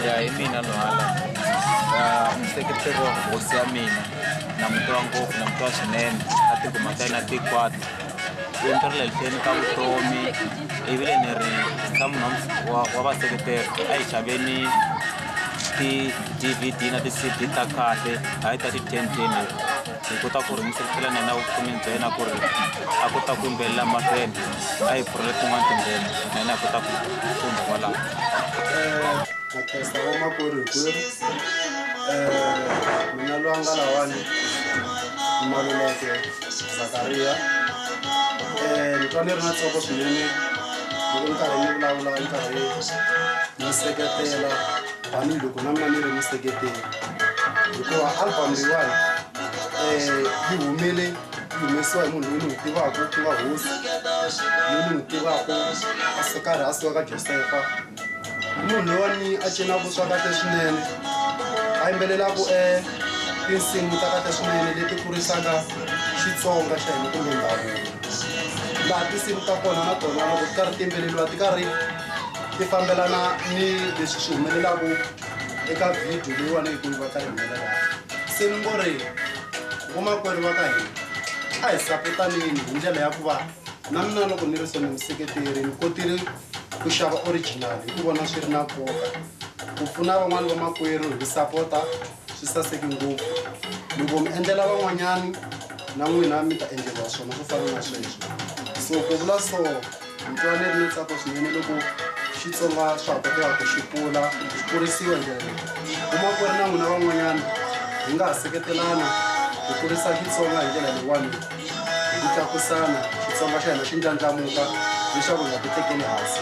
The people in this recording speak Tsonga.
ya hi mina lohala ndzi tekete vo hosi ya mina na muti wa ngopfu na muti wa swinene a tikuma ka yena tikwata i ntirhile lihleni ka vutomi ivile ni ri ka munhu wa wa vaseketeri a hi xaveni ti-dvd na ti-cd ta kahle hayi ta ti-ten ten hi kota ku ringiselela na yena vufunini bya yena ku ri a kota ku yimbelela mahlweni a hi pfurile tin'wana tindlela na yena hi kota ku funda kwalaho makhesta eh, vamakwerhu hikwenu eh, mina loyi a nga lawani maluleke zakariya eh, ni twa ni ri na tsoko swinene loko ni karhi ni vulavula ni karhi ni seketela tanihiloko na mina ni ri miseketeri hikuva album leyiwani um yi humele yi humesiwa hi munhu loyi ni n'wi tivaka ku nga hosi loyi ni n'wi tivaka a se karhi a suka ka josefa i munhu loyiwani a cinaka swa kahle swinene a yimbelelaka um tinsimu ta kahle swinene leti kurisaka xitsonga xa hina kumbe ndhavuko laha tinsimu ta kona na tona loko ti karhi ti yimbeleriwa ti karhi ti fambelana ni leswi swi humelelaku eka video leyiwani yi kuyiva ka yi humelela se ni ngo ri vomakwerhu va ka hina a hi sapotanini hi ndlela ya ku va na mina loko ni ri so ni museketeri ni kotile ku xava original hi ku vona swi ri na nkoka ku pfuna van'wani vamakwerhu hi sapota swi saseke ngopfu loko mi endlela van'wanyani na n'wina mi ta endleriwa swona swo fana na sweswo so ku vula so ni twa ni ri ni tsako swinene loko xitsonga swa ha koteka ku xi kula xi kurisiwa hi ndlela leyi kuma ku ri na n'wina van'wanyana hi nga ha seketelana hi kurisa xitsonga hi ndlela leyiwani hi ku tlakusana xitsonga xa hina xi ndlandlamuka leswaku hi nga ti tekeli hansi